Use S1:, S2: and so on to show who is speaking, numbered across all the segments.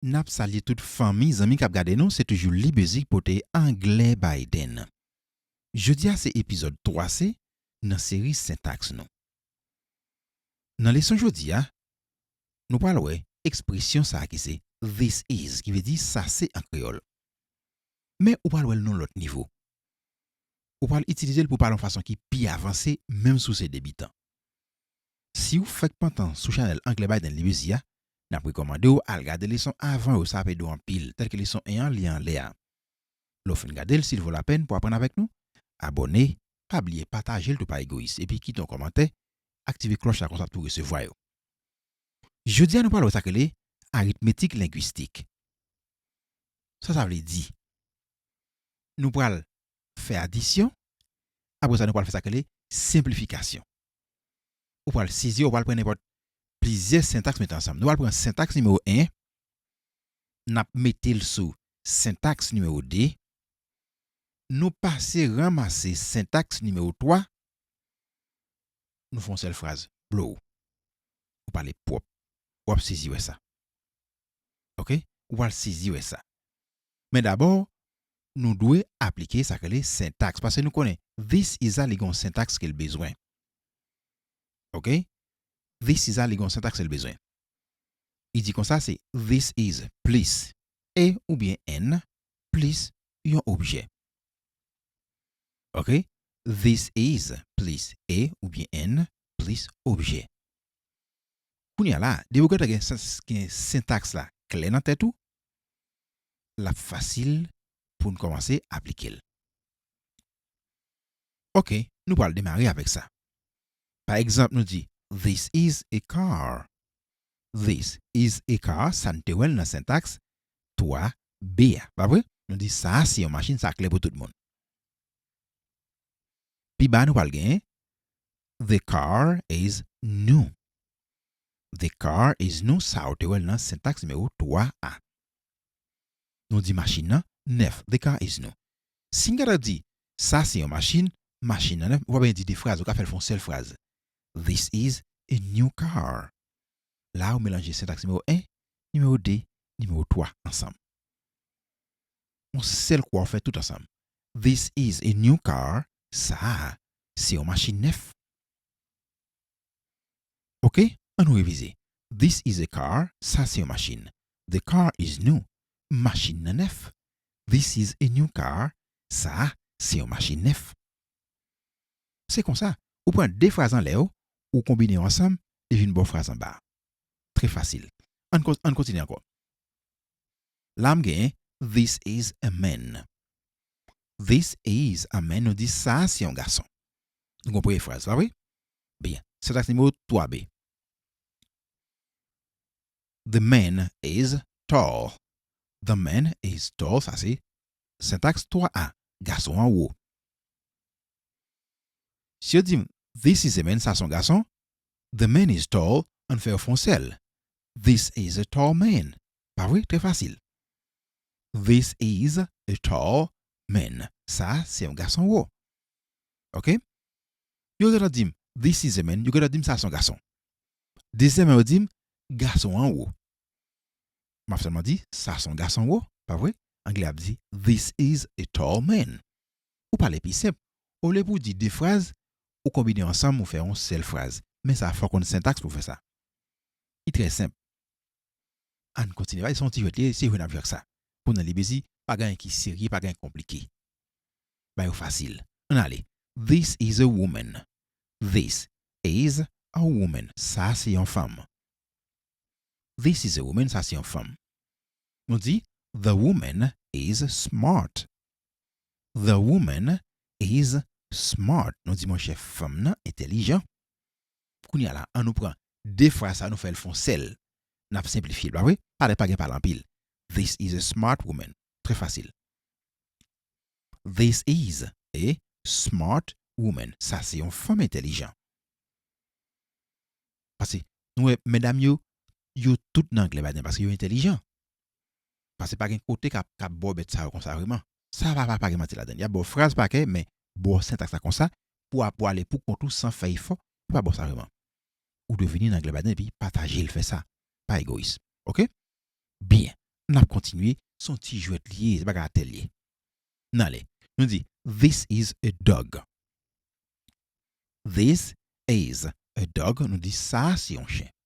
S1: Nap salye tout fanmi zanmi kap gade nou se toujou libezik pote anglè Biden jodia se epizòd 3 se nan seri sentaks nou nan leson jodia nou pral wè ekspresyon sa ki se this is ki vle di sa se an kreyòl men ou pral wèl non lòt nivo ou pral itilizel pou pale yon fason ki pi avanse menm si w se debitan. Siw fèk pantan sou chanèl anglè Biden li bizi a, nap rekòmandew al gade leson avan yo sa ap edew anpil tèlke leson 1 an li anlè a. Lèw fin gadel sil vo lapèn pou aprann avèk nou, abòne, pa bliye patajel tou pa egoyis epi kite yon kòmantè, aktive klòch la konsa ap tou resevwa yo. Jodia nou pral wè sak rele aritmetik lengwistik. Sa sa vle di? Nou pral fè adisyon, apre sa nou pral fè sa k rele senplifikasyon. Ou pral sezi, ou pral pran nenpòt plizyè sentaks mete ansanm. Nou pral pran sentaks nimewo 1, n ap mete l sou sentaks nimewo 2, nou pase ranmase sentaks nimewo 3, nou fè yon sèl fraz, blow! Ou pale pwòp. W ap sezi wè sa. ok ou pral sezi wè sa men dabò nou dwe aplike sak rele sentaks pase nou konnen this is a li gen yon sentaks kel bezwen ok this is a li gen yon sentaks el bezwen li di konsa se this is plis a oubyen an plis yon objè ok this is plis a oubyen an plis objè Kounye a la, depi ou gentan gen gen sentaks la klè nan tèt ou, l ap fasil pou n kòmanse aplike l. Ok, nou pral demare avèk sa. Pa egzanp, nou di, This is a car. This is a car, sa n te wè l nan sentaks 3 be a, pa vre? Nou di, Sa a se yon machin, sa klè pou tout moun. Pi ba a nou pral gen, The car is new. The car is new sa ou te wè l nan sentaks nimewo 3 a. Nou di machin nan nèf. The car is new. Si m ta dwe di sa se yon machin, machin nan nèf, m pa bezwen di de fraz, ou ka fè l fè yon sèl fraz. This is a new car. La a ou melanje sentaks nimewo 1, nimewo 2, nimewo 3 ansanm. Yon sèl kwa ou fè tout ansanm. This is a new car, sa a Se yon machin nèf. Ok, an nou revize. This is a car, sa se yon machin. The car is new, machin nan nèf. This is a new car, sa a se yon machin nèf. Se konsa, ou pran de fraz anlè yo, ou konbine yo ansanm, li vin ba w fraz anba a. Trè fasil. An n kontinye ankò. La m gen This is a man. This is a man nou di sa a se yon gason. Nou gen yon premye fraz la wi. Byen, sentaks nimewo 3 B. The man is tall. The man is tall, sa se sentaks 3 A. Gason an wo. Si yo di m This is a man, sa a se yon gason, The man is tall, ann fè yo fonse l, This is a tall man. Pa vre? Trè fasil. This is a tall man. Sa a se yon gason wo. Ok? Yo gentan di m, This is a man. Yo gentan di m sa a se yon gason. Dezyèman yo di m, Gason an wo. M ap sèlman di, Sa a se yon gason wo. Pa vre? Anglè a ap di, This is a tall man. Ou pale pi senp. Olye pou w di de fraz, ou konbine yo ansanm ou fè yon sèl fraz. Men sa fòw konn sentaks pou fè sa. Li trè senp. Ann kontinye bay, se yon ti jwèt li ye, se jwe nap jwe ak sa. Pou nan Libezi, pa gen anyen ki serye, pa gen anyen ki konplike. Bay yo fasil. Ann ale, This is a woman. This is a woman. Sa se yon fanm. This is a woman, sa se yon fanm. Nou di, The woman is smart. The woman is smart. Nou di monchè fanm nan entèlijan. Kounye a la, an nou pran de fraz sa a nou fè l fon sèl. N ap senplifye l, pa vre? Pale pa gen pale anpil. This is a smart woman. Trè fasil. This is a smart woman. Sa se yon fanm entèlijan. Pase, nou wè medam yo, yo tout nan anglè badè paske yo entèlijan. Pase pa gen kote ka ka bo bèt sa yo konsa vre man. Sa pa pa gen manti ladann. Yap baw fraz pa kè men baw sentaks la konsa pou apou ale pou kont ou san fè efò yo pa baw sa vre man. Ou dwe vini nan anglè baden epi patajel fè sa. Pa egoyis ok. Byen nap kontinye son ti jwèt li ye se bagay atè li ye. Nan ale nou di this is a dog this is a dog nou di sa se yon chen.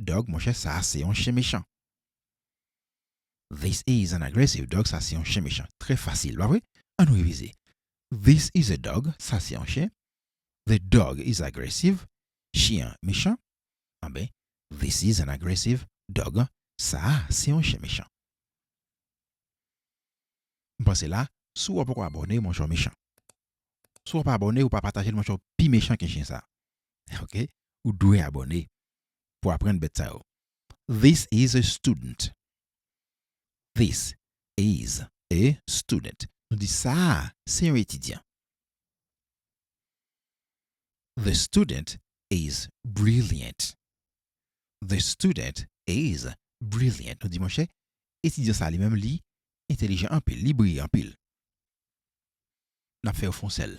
S1: dog monchè sa se yon chen mechan. This is an aggressive dog sa se yon chen mechan trè fasil pa vre an nou revize this is a dog sa se yon chen the dog is aggressive chyen an mechan anben this is an aggressive dog sa a se yon chen mechan. M pase la si w poko abòne monchè w mechan si w pa abòne ou pa pataje l monchè w pi mechan ke chen sa ok ou dwe abòne pou aprann bèt sa yo. This is a student. This is a student. Nou di sa a se yon etidyan. The student is brilliant. The student is brilliant. Nou di monchè, etidyan sa a li menm li entelijan anpil, li briyan anpil. N ap fè yo fon sèl.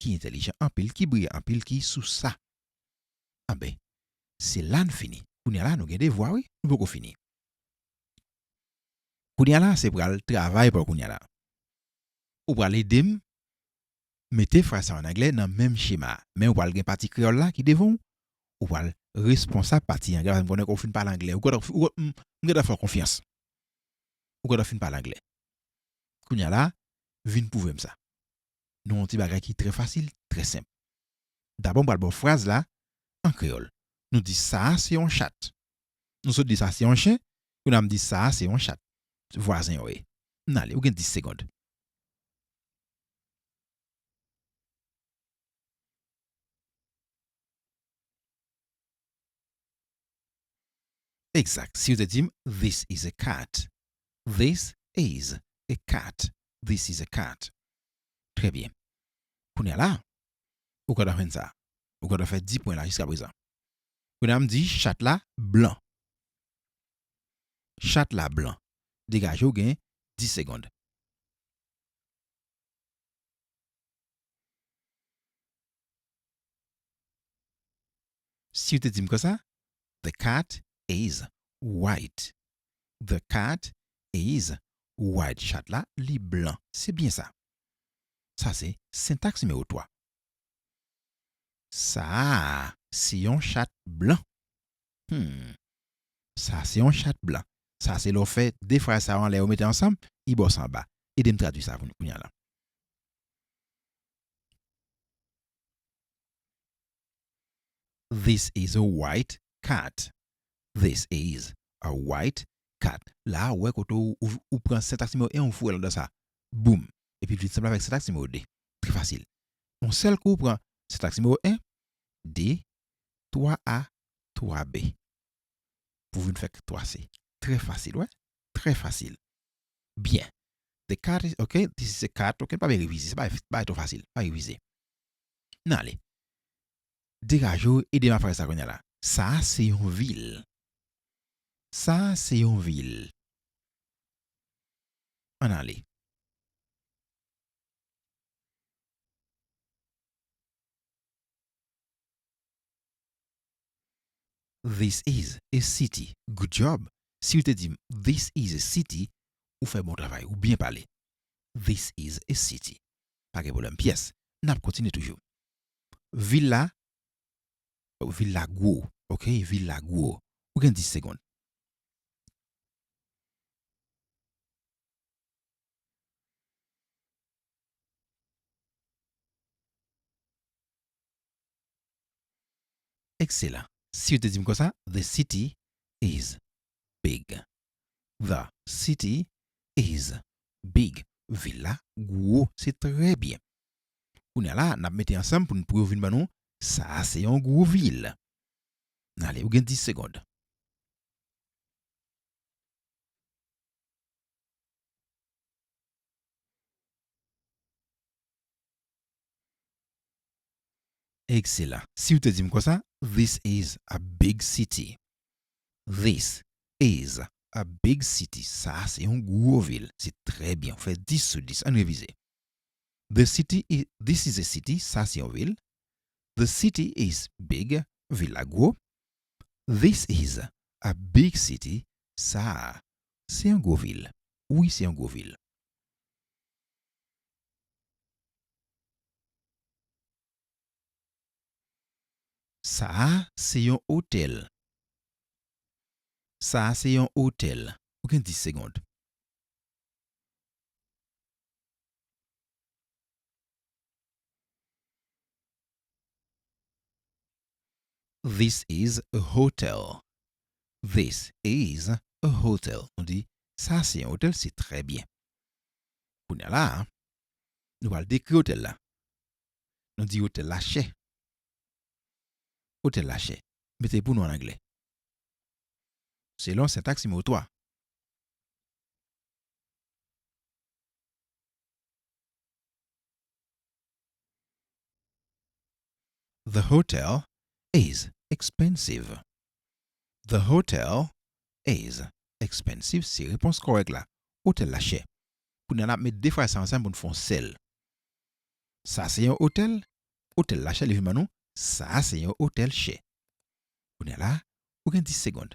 S1: ki entèlijan anpil, ki briyan anpil, ki sou sa. Anben, se la n fini. Kounye a la, nou gen devwa wi, nou poko fini. Kounye a la, se pral travay pou kounye a la. Ou pral ede m mete fraz sa yo an anglè nan menm chema a. Men ou pral gen pati kreyòl la ki devan ou, ou pral responsab pati anglè paske m konnen ke ou fin pale anglè. Ou gentan fin, m gentan fè w konfyans. Ou gentan fin pale anglè. Kounye a la, vin pwouve m sa. nou yon ti bagay ki trè fasil, trè senp. Dabò m pral ba w fraz la an kreyòl. Nou di sa a se yon chat. Nou sot di sa se yon chen, kounye a m di sa a se yon chat. Vwazen yo ye. N ale, ou gen 10 segond. Exact si yo te dim this is a cat this is a cat this is a cat trè byen kounya la ou ka ta jwenn sa ou ka ta fè 10 pwen la jiska prezan kounya m di chat la blan chat la blan degaje w gen 10 segond. Siw te dim konsa The cat is white The cat is white Chat la li blan Se byen sa Sa se sentaks nimewo 3 Sa a se yon chat blan Hum Sa a se yon chat blan Sa a se lè w fè 2 fraz sa yo anlè yo mete ansanm I bò s anba Ede m tradui sa pou nou kounya la. This is a white cat This is a white cat La ou wè kote ou pran sentaks nimewo 1 ou foure l anndan sa boum epi l vin sanble avèk sentaks nimewo 2. Trè fasil. On sèl kou ou pran sentaks nimewo 1, 2, 3 a, 3 b pou vin fè 3 c. Trè fasil wè. Trè fasil. Byen. The cat is ok This is a cat ok Nou pa byen revize. Se bagay trò fasil. Pa revize. N ale. Degaje w e dema fraze sa kounye a la. Sa a se yon vil. Sa a se yon vil. An n ale. This is a city Good job Si ou te di m This is a city Ou fè bon travay Ou byen pale This is a city Pa gen pwoblèm pyès N ap kontinye toujou Vil la Vil la gwo Ok Vil la gwo Ou gen 10 segond Ekselan. Si yo te di m konsa, The city is big. The city is big. Vil la gwo. Se trè byen. Kounye a la, n ap mete ansanm pou n pou yo vin ban nou Sa a se yon gwo vil. N ale, ou gen 10 segond. Ekselan. Siw te dim konsa This is a big city This is a big city Sa a se yon gwo vil Se trè byen ou fè 10 sou 10 Ann revize The city is This is a city Sa a se yon vil The city is big Vil la gwo This is a big city Sa a se yon gwo vil Wi se yon gwo vil. Sa a se yon otèl. Sa a se yon otèl. Ou gen 10 segond. This is a hotel. This is a hotel. Nou di, Sa a se yon otèl. Se trè byen. Kounya la a, nou pral dekri otèl la. Nou di otèl la chè. Otèl la chè. Mete pou nou an anglè. Selon sentaks nimewo 3. The hotel is expensive. The hotel is expensive se repons kòrèk la. Otèl la chè. Kounye a n ap met de fraz sa ansanm pou n fè yon sèl. Sa se yon otèl. Otèl la chè li vin ban nou Sa a se yon otèl chè. Kounye a la a, ou gen 10 segond.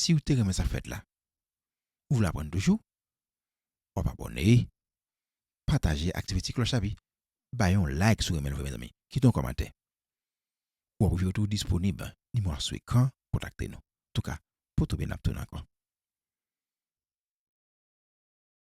S1: Siw te renmen sak fèt la ou vle aprann toujou wap abòne pataje aktive ti klòch la pi bay yon like sou renmenl vre mezanmi kite yon kòmantè wap wè yo tou disponib nimewo a sou ekran kontakte nou antouka potoube nap tounen ankò.